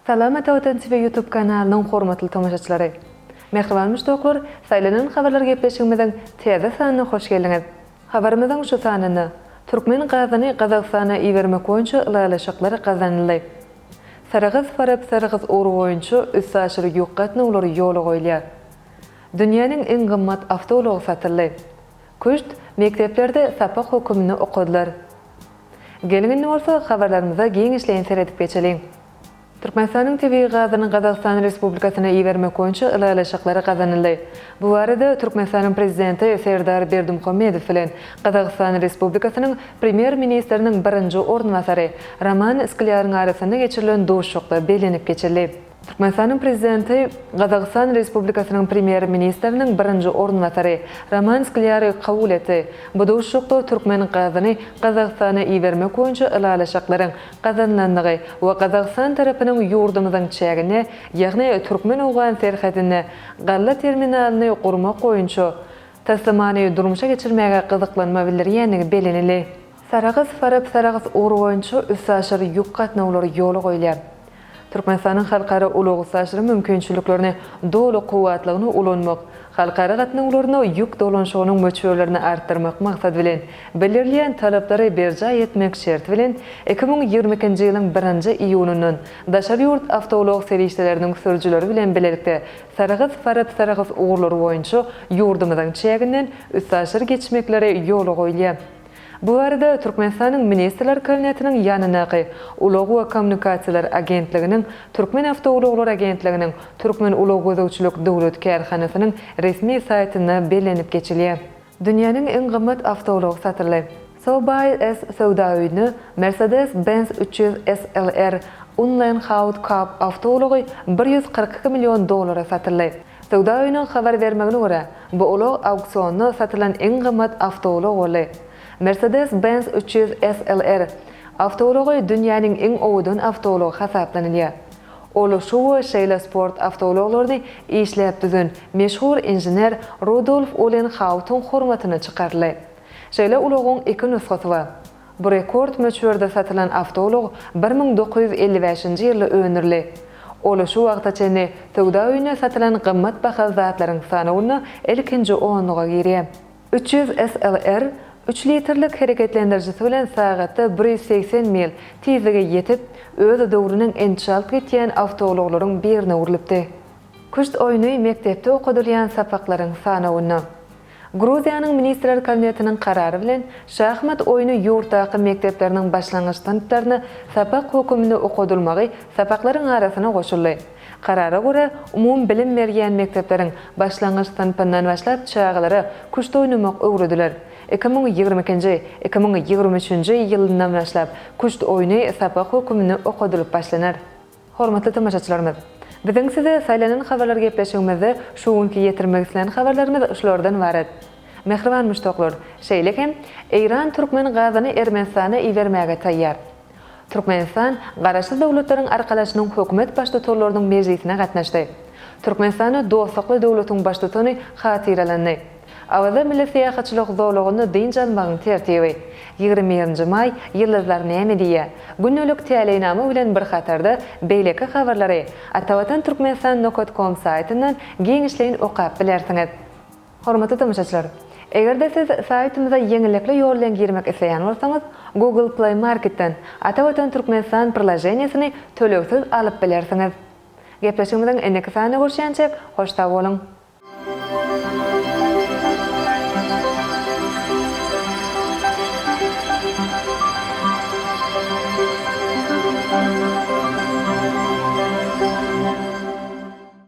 Salam Ata Watan TV YouTube kanalynyň hormatly tomaşaçylary! Mähriban muşdaklar, Saýlanan habarlar gepleşigimiziň täze sanyna hoş geldiňiz! Habarymyzyň şu sanynda, Türkmen gazyny Gazagystana ibermek boýunça ylalaşyklar gazanyldy. Saragaz-Farap Saragaz ugry boýunça üstaşyr ýük gatnawlary ýola goýulýar. Dünýäniň iň gymmat awtoulagy satyldy. Küşt mekdeplerde sapak höküminde okadylar. Geliň indi bolsa habarlarymyza giňişleýin seredip geçeliň. Türkmenistanyň tebigy gazyny Gazagystan Respublikasyna ibermek boýunça ylalaşyklar gazanyldy. Bu barada Türkmenistanyň Prezidenti Serdar Berdimuhamedow bilen Gazagystan Respublikasynyň Premýer-ministriniň birinji orunbasary Roman Sklýaryň arasynda geçirilen duşuşykda bellenip geçildi. Türkmenistanyň Prezidenti Gazagystan Respublikasynyň Premýer-ministriniň birinji orunbasary Roman Sklýary kabul etdi. Bu duşuşykda türkmen gazyny Gazagystana ibermek boýunça ylalaşyklaryň gazanylandygy we Gazagystan tarapynyň ýurdumyzyň çägine, ýagny türkmen-owgan serhedine Galla terminalyny gurmak boýunça taslamany durmuşa geçirmäge gyzyklanma bildirýändigi bellenildi. Sarahs, Farap, Sarahs ugry boýunça üstaşyr ýük gatnawlary ýola goýulýar. Türkmenistanyň halkara ulag-üstaşyr mümkinçiliklerini doly kuwwatlygyna ulanmak, halkara gatnawlaryna ýük dolanyşygynyň möçberlerini artdyrmak maksady bilen, bildirilýän talaplary berjaý etmek şerti bilen, iki müň ýigrimi ikinji ýylyň birinji iýunyndan Daşary ýurt awtoulag serişdeleriniň sürüjileri bilen bilelikde Sarahs, Farad, Sarahs ugurlary boýunça ýurdumyzyň çäginden üstaşyr geçmekleri ýola goýulýar. Bu barada Türkmenistanyň Ministrler Kabinetiniň ýanyndaky Ulag we kommunikasiýalar agentliginiň Türkmen awtoulaglar agentliginiň Türkmen ulag gözegçilik döwlet kärhanasynyň resmi saýtynda bellenip geçilýär. Dünýäniň iň gymmat awtoulag satyldy. Sobeys söwda öýüne Mercedes-Benz üç ýüz SLR Unlein Haut Cup awtoulagy bir ýüz kyrk iki million dollara satyldy. Söwda öýüniň habar bermegine görä, bu ulag auksionda satylan iň gymmat awtoulag boldy. Mercedes-Benz üç ýüz SLR awtoulagy dünýäniň iň owadan awtoulagy hasaplanylýar. Ulaşygy we şeýle sport awtoulaglaryny işläp düzen meşhur inžener Rudolf Ulenhautyň hormatyna çykaryldy. Şeýle ulagyň iki nusgasy bar. Bu rekord möçberde satylan awtoulag bir müň dokuz ýüz elli bäşinji ýylda öndürildi. Ol şu wagta çenli söwda öýünde satylan gymmat bahaly zatlaryň sanawynda ilkinji onluga girýär. Üç ýüz SLR üç litrlik hereketlendirijisi bilen sagatda bir ýüz segsen mil tizlige ýetip, öz döwrüniň en çalt gitýän awtoulaglaryň birine öwrülipdi. Küşt oýny mekdepde okadylýan sapaklaryň sanawynda. Gruziýanyň Ministrler Kabinetiniň karary bilen şahmat oýny ýurtdaky mekdepleriniň başlangyç synplarynda sapak höküminde okadylmagy sapaklaryň arasyna goşuldy. Karara görä, umumy bilim berýän mekdepleriň başlangyç synpyndan başlap çagalara küşt oýnamak öwrediler. Iki müň ýigrimi ikinji, iki müň ýigrimi üçünji ýylyndan başlap küşt oýny sapak höküminde okadylyp başlanar. Hormatly tomaşaçylarymyz! Biziň size saýlanan habarlar gepleşigimizde şu günki ýetirmek islän habarlarymyz şulardan ybarat. Mähriban muşdaklar, şeýle hem, Eýran türkmen gazyny Ermenistana ibermäge taýýar. Türkmenistan Garaşsyz Döwletleriň Arkalaşynyň Hökümet Baştutanlarynyň mejlisine gatnaşdy. Türkmenistany dostlukly döwletiň Baştutany hatyralandy. Awaza milli syýahatçylyk zolagynda dynç almagyň tertibi, Ýigrimi birinji maý, Ýyldyzlar näme diýýär? Gündelik täleýnama bilen bir hatarda beýleki habarlary atavatan turkmenistan nokat kom saýtyndan giňişleýin okap bilersiňiz. Hormatly tomaşaçylar! Eger-de siz saýtymyza ýeňillikli ýol bilen girmek isleýän bolsaňyz, Google Play Marketden Ata Watan Türkmenistan prilaženiýesini tölegsiz alyp bilersiňiz. Gepleşigimiziň indiki sanynda görüşýänçäk, hoş sag boluň!